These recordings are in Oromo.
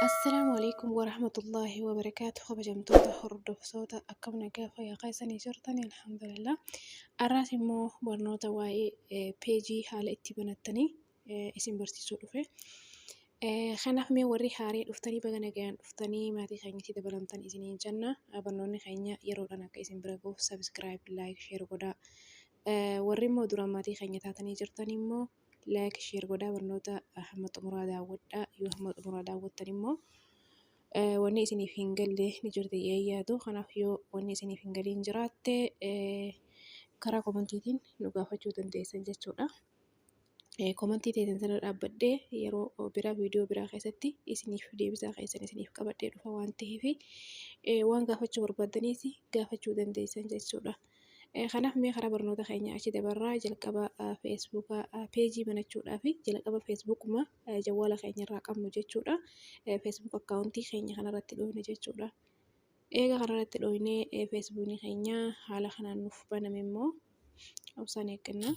Assalaamu alaikum warahmatullaahi wabarakaatu kabajamtoota hordoftoota akkam nagaa fayyaa keessanii jirtan alhamdulillah arraas immoo barnoota waa'ee peejii haala itti banattanii isin barsiisuu dhufe kanaaf mee warri haaree dhuftanii baga nagayaan dhuftanii maatii keenyatti dabalamtan isiniin jenna barnoonni keenya yeroodhaan akka isin bira gahuuf sabiskiraayib laayik sheer godhaa Warri immoo duraan maatii keenya taatanii jirtan immoo like share godhaa barnoota hamma xumuraa daawwadhaa yoo hamma xumuraa daawwattan immoo wanni isiniif hin galle ni jirti yaadu kanaaf yoo wanni isiniif hin galiin jiraatte karaa komantiitiin nu gaafachuu dandeessan jechuudha. komantii teessan sana dhaabbadhee yeroo biraa viidiyoo biraa keessatti isiniif deebisaa keessan isiniif qabadhee dhufa waan ta'eef waan gaafachuu barbaadaniis gaafachuu dandeessan jechuudha. Kanaaf mee karaa barnoota keenya achi dabarraa jalqaba feesbuuka peejii banachuudhaa fi jalqaba feesbuukuma jawwaala keenya irraa qabnu jechuudha. Feesbuuk akkaawuntii keenya kanarratti dhoofne jechuudha. Eega kanarratti dhooynee feesbuukni keenya haala kanaan nuuf baname immoo obsaan eegganna.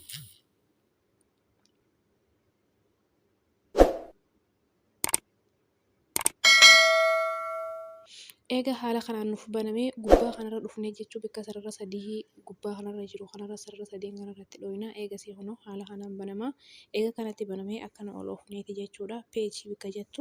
Eega haala kanaan nuuf baname gubbaa kanarra dhufnee jechuu bakka sarara sadii gubbaa kanarra jiru kanarra sarara sadeen kanarratti dhooyna. Eegasii kunoo haala kanaan banama. Eega kanatti banamee akkana ol oofneeti jechuudha. Peejii bakka jettu.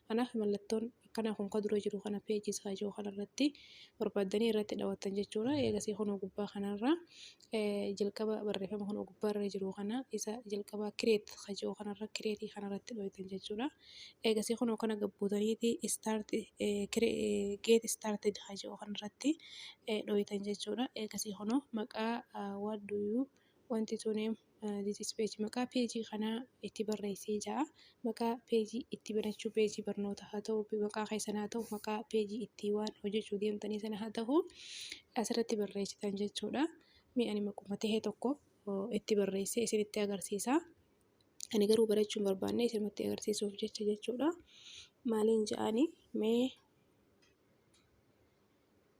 Kanaaf mallattoon akkanaa kun ka dura jiru kana page isaa ijoo kana irratti barbaaddanii irratti dhawattan jechuudha. Eegasii kunoo gubbaa kanarra jalqaba barreeffama kunoo gubbaarra jiru kana isa jalqabaa create ka jiru kanarra create kana irratti dhawattan jechuudha. Eegasii kunoo kana gabbuutaniiti start get started ka jiru kanarratti dhawattan jechuudha. Eegasii kunoo maqaa what do you want to name this is page maqaa peejii kanaa itti barreessee ja'a maqaa peejii itti banachuu peejii barnoota haa ta'u maqaa keessan haa ta'u maqaa peejii itti waan hojjechuu deemtanii sana haa ta'u asirratti barreessitan jechuudha mee ani maquma ta'e tokko oh, itti barreessee isinitti agarsiisa ani garuu barachuu hin barbaanne isinumatti agarsiisuuf jecha jechuudha maaliin ja'ani mee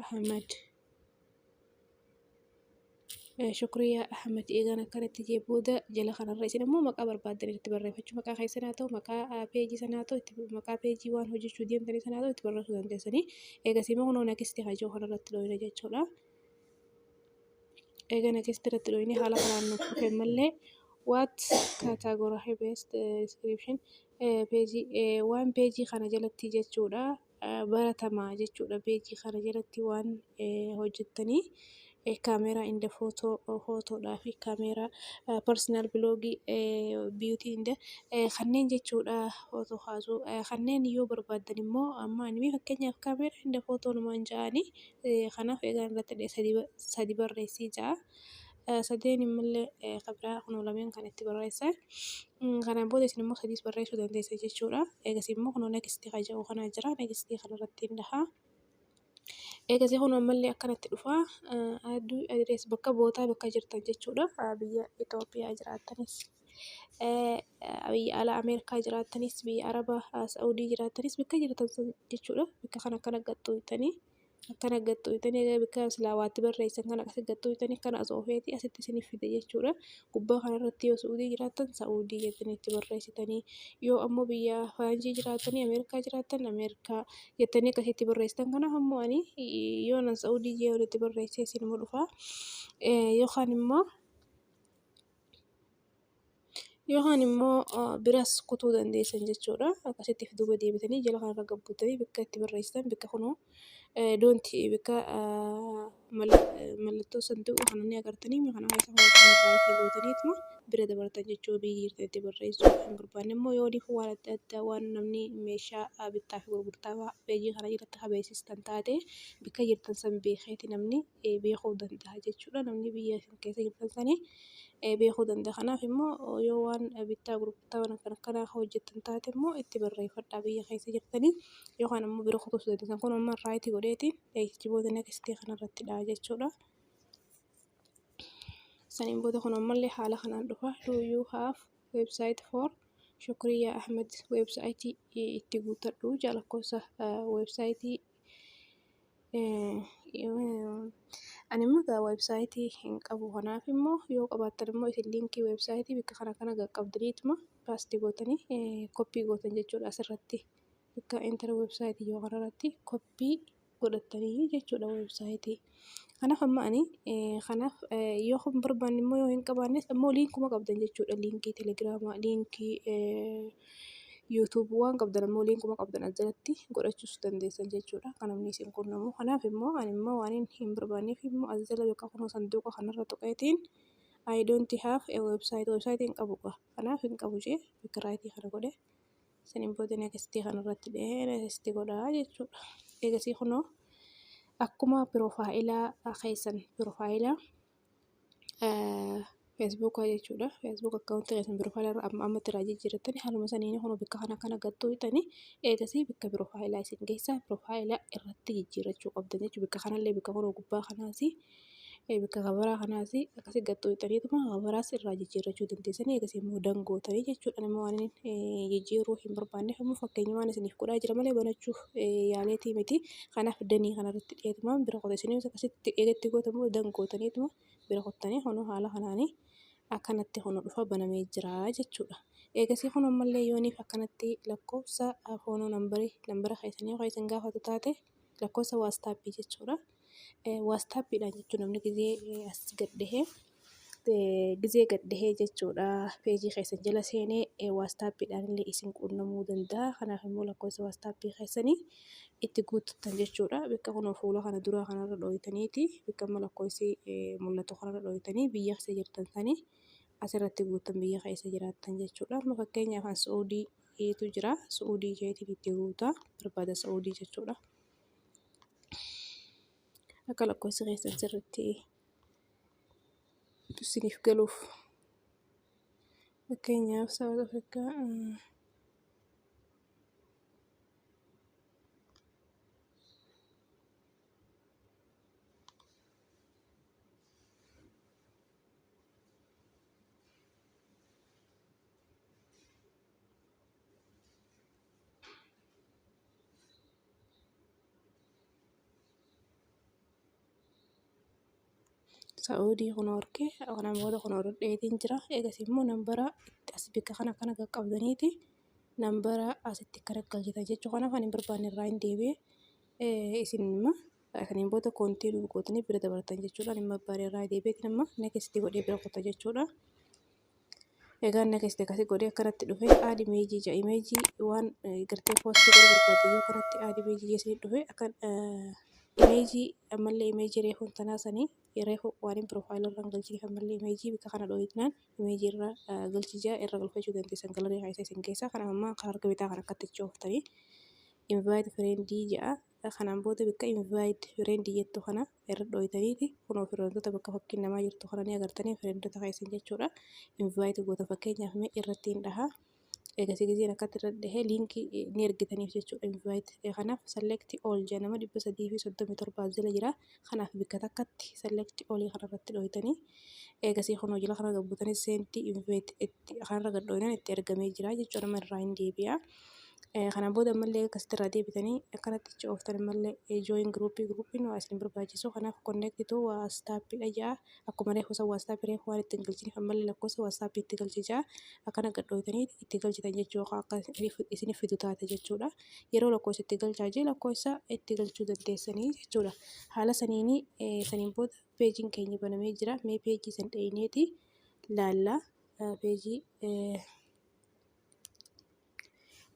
Ahmad. Shukriyaa Ahmad eegaan akkanatti jee booda jala kanarra isin immoo maqaa barbaaddan itti barreeffachuu maqaa keessan haa ta'u maqaa peejii sana haa ta'u itti maqaa peejii waan hojjechuu deemtanii sana haa ta'u itti barreessuu dandeessanii eegas immoo kunoo nakistii haa jiru kanarratti dhooyina jechuudha. Eega nakistii irratti dhooyine haala kanaan nuuf dhufe malee what category based description peejii waan peejii kana jalatti jechuudha. baratama jechuudha page kana jalatti waan hojjettanii camera in the photo photoodhaa fi camera personal blog beauty in the kanneen jechuudha photo kaasuu kanneen yoo barbaaddan immoo amma ani fakkeenyaaf camera in the photo numaan ja'anii kanaaf egaa irratti sadii barreessii ja'a. Sadeen immoo kan biraa kunoo lameen kan itti barreesse. Kanaan booda isin immoo sadiis barreessuu dandeessu jechuudha. Eegas immoo kunoo next kan jedhu kana jira. Next kana irratti hin dhaha. Eegas kunoo ammallee akkanatti dhufa. Adduu address bakka bootaa bakka jirtan jechuudha. Biyya Itoophiyaa jiraattanis, biyya alaa Ameerikaa jiraattanis, biyya Arabaa Sa'udii jiraattanis bakka jirtan jechuudha. Bakka kana kana gattu jettanii. akkana gaxxooytanii egaa bakka silaa waatti barreessan kana akkasi gaxxooytanii kana osoo feeti asitti isiniif fida jechuudha gubbaa kana irratti yoo su'uudii jiraattan sa'uudii jettanii itti barreessitanii yoo ammoo biyya faranjii jiraatanii ameerikaa jiraattan ameerikaa jettanii akkasi itti barreessitan kana ammoo ani yoo nan sa'uudii jee walitti barreessee isinuma dhufaa yookaan immoo Yookaan immoo biras kutuu dandeessan jechuu dha. Akkasitti of duuba deebitanii jala kana irra gad buutanii bakka itti barreessitan bakka kunoo don't bakka mallattoo sanduuqa kana ni agartanii kana keessa right gootaniituma bira dabartan jechuu dha. Biyyi jirtan itti barreessuu hin barbaanne immoo yoo oliif waan adda addaa waan namni meeshaa bittaa fi gurgurtaa page kana irratti haa beeksistan taate bakka jirtan san beekeeti namni. beekuu danda'a jechuudha. Namni biyya isin keessa hin dhaltane beekuu danda'a. Kanaaf immoo yoo waan bittaa gurgurtaa waan akkana akkanaa hojjettan taate immoo itti barreeffadhaa biyya keessa jirtanii yookaan immoo bira kutuus dandeessan. Kun amma raayitii godheetiin jijjiboota nekstii kanarratti dha jechuudha. Saniin booda kun ammallee haala kanaan dhufa. Do you have website for Shukriya Ahmed website itti guuttadhu ja'a lakkoofsa website Ani immoo egaa website hin qabu kanaaf immoo yoo qabaattan immoo isin linkii website bakka kana kana qaqqabdaniituma paste gootanii copy gootan jechuudha asirratti bakka enter website yoo kana irratti copy godhattanii jechuudha website. Kanaaf amma ani kanaaf yoo hin barbaanne immoo yoo hin qabaannes immoo liinkuma qabdan jechuudha. Liinkii telegiraamaa, liinkii yuutuubuu waan qabdan immoo liinkuma qabdan as jalatti godhachuus dandeessan jechuudha. Kan namni isin quunnamu. Kanaaf immoo ani immoo waan hin barbaanneef immoo as jala yookaan kunoo sanduuqa kanarra tuqeetiin I don't have a website website hin qabu qaba. Kanaaf hin qabu jee piraayitii kana godhe. Saniin booda next kanarratti dhahee next godhaa jechuudha. Eegasii kunoo akkuma piroofaayilaa keessan piroofaayilaa feesbuuka jechuudha. Feesbuuk akkaawuntii keessan piroofaayilaa irra amma ammatti irraa jijjiirrattani haaluma saniin kunoo bakka kana kana gattuu hixani eegasii bakka piroofaayilaa isin geessaa piroofaayilaa irratti jijjiirrachuu qabdan jechuudha. Bakka kanallee bakka kunoo gubbaa kanaasi. Gabaabaa kanas akkasitti gad xuqxaniituma gabaabaa irraa jijjiirrachuu dandeessu. Akkasii immoo dangootanii jechuudha. Ani waan jijjiiruu hin barbaanneef immoo fakkeenyumaan isiniif godhaa jira malee banachuuf yaaleetii miti. Kanaaf danii kanarratti dheetumaan bira qote isiniif akkasitti eegatti gootamu dangootaniituma bira qottanii kunoo haala kanaanii akkanatti kun dhufa banamee jira jechuudha. Eegasii kun ammallee yooniif akkanatti lakkoofsa foonoo nambarii nambara keessanii ho'isan gaafatu taate. lakkoofsa waastaappii jechuudha. Waastaappiidhaan jechuun namni gizee as gad dhihee gizee gad dhihee jechuudha peejii keessan jala seenee waastaappiidhaan illee isin quunnamuu danda'a. Kanaaf immoo lakkoofsa waastaappii keessanii itti guuttan jechuudha. Bakka kunoo fuula kana duraa kanarra dhooytaniiti bakka amma lakkoofsi mul'atu kanarra dhooytanii biyya keessa jirtan sanii asirratti guuttan biyya keessa jiraattan jechuudha. Amma fakkeenyaaf an Suudii heetu jira su'uudii keetiin itti guutaa barbaada su'uudii jechuudha akka lakkoofsa keessan sirriitti isiniif galuuf fakkeenyaaf saawuz afrikaa Sa'oodii kun horkee kana booda kun hordheetiin jira. Eegas immoo nambara as bakka kana kana qaqqabdaniiti nambara asitti akka rakkachita jechuu kanaaf ani hin barbaanne irraa hin deebi'e. Isin immoo kaniin booda koontii duugootni bira dabartan jechuudha. Ani hin barbaanne irraa deebi'eetiin amma neekistii godhee bira kuta jechuudha. egaa next akkasi godhee akkanatti dhufe aad imeejii ja imeejii waan gartee poostii godhuu barbaadu yoo kanatti aad imeejii jeesee dhufe akka imeejii ammallee imeejii reefuun tanaa sanii reefu waaniin piroofaayilii irraan galchii ammallee imeejii bika kana dhooyitnaan imeejii irra galchii jaa irra galfachuu dandeessan galarii haayisa isin keessaa kana ammaa kan harka bitaa kan akkatti chooftanii invite friendii ja'a Kanaan booda bakka invite friend jettu kana irra dhooytaniiti kunoo fireendoota bakka fakkiin namaa jirtu kana ni agartanii fireendoota keessan jechuudha invite goota fakkeenyaaf mee irratti hin dhahaa eegasii gizeen akkatti irra dhahee liinkii ni ergitaniif jechuudha invite kanaaf select all jedha nama 337 as jala jira kanaaf bikka takkatti select olii kanarratti dhooytanii eegasii kunoo jila kana gabbutanii seentii invite itti kanarra gad dhooynan itti ergamee jira jechuudha amma irraa hin deebi'a. Kana booda ammallee akkasitti irraa deebitanii akkanatti ichi ooftan ammallee join group groupiin waa isin barbaachisu kanaaf connect to WhatsApp dha ja'a akkuma reefu san WhatsApp reefu waan ittiin galchiniif ammallee lakkoofsa WhatsApp itti galchi ja'a akkana gad dhooytanii itti galchitan jechuu akka isiniif fidu taate jechuudha. yeroo lakkoofsa itti galchaa jee lakkoofsa itti galchuu dandeessanii jechuudha. Haala saniin saniin booda peejiin keenya banamee jira. Mee peejii san dheyneeti laalla peejii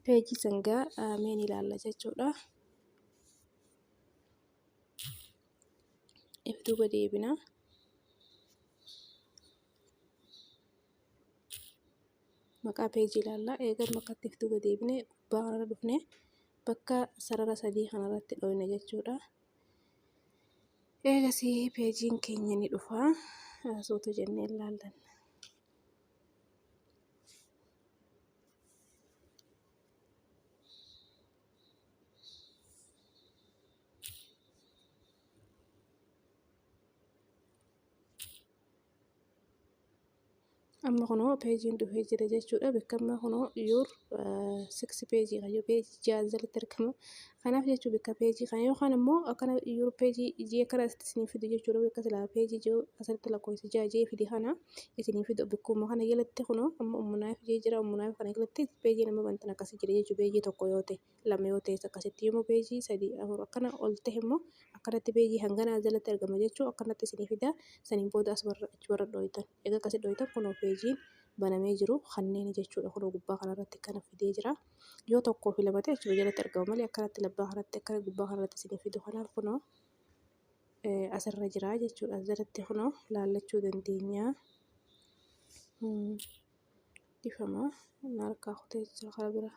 peejii sangaa mee ni laalla jechuudha. If duuba deebina. maqaa peejii ilaalla. Eegan bakka itti fiduu gadi deebine gubbaa kanarra dhufne bakka sarara sadii kanarratti dhooyna jechuudha. Eegasii peejiin keenya ni dhufa. Suuta jennee ilaallan. amma kunoo peejiin dhufee jira jechuudha beekammaa kunoo yuur siksi peejii kan yoo peejii ja'an jalatti argama kanaaf jechuu bakka peejii kan yookaan immoo akkana yuur peejii ijii akkana asitti isinii fidu jechuudha bakka silaa peejii jiru asirratti lakkoofsa ja'a jee fide kana isinii fidu bakkuma kana jalatti kunoo amma ummunaaf jee jira ummunaaf kana jalatti peejiin amma bantan akkasii jira jechuu peejii tokko yoo ta'e. lama yoo ta'es akkasitti yommuu peejii sadii afur akkana ol ta'e immoo akkanatti peejii hangana as jalatti argama jechuu akkanatti isinii fida saniin booda as warra achi warra dhooytan egaa akkasi dhooytan kunoo peejiin banamee jiru kanneen jechuudha kunoo gubbaa kanarratti kana fidee jira yoo tokkoo fi lama ta'e achuma jalatti argama malee akkanatti labbaa kanatti akkana gubbaa kanarratti isinii fidu kanaaf kunoo asirra jira jechuudha as jalatti kunoo laallachuu dandeenya dhifama harkaa kutee jira karaa biraa.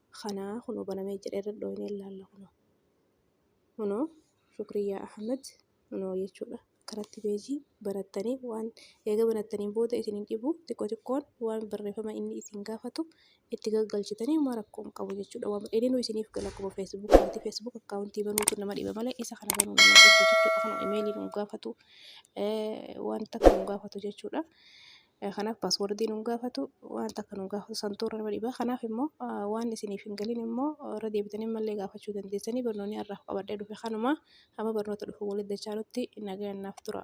kanaa kunoo banamee jira irra dhooyne ilaalla kunoo kunoo shukriyaa ahmed kunoo jechuudha akkanatti beejii banattanii waan eega banattanii booda isin hin dhibu xiqqoo xiqqoon waan barreeffama inni isin gaafatu itti galgalchitanii uma rakkoo hin qabu jechuudha waan dheedinu isiniif gala akkuma feesbuuk waati feesbuuk akkaawuntii banuutu nama dhiba malee isa kana banuu nama dhibdu jechuudha kunoo imeelii nu gaafatu wanta kan nu gaafatu jechuudha Kanaaf paaswordii nu gaafatu waan takka nu gaafatu santuu irra nama dhiba. Kanaaf immoo waan isiniif hin galin immoo irra deebitanii mallee gaafachuu dandeessanii barnoonni har'aaf qabadhee dhufe kanuma amma barnoota dhufu walitti dachaanutti nagaan naaf tura.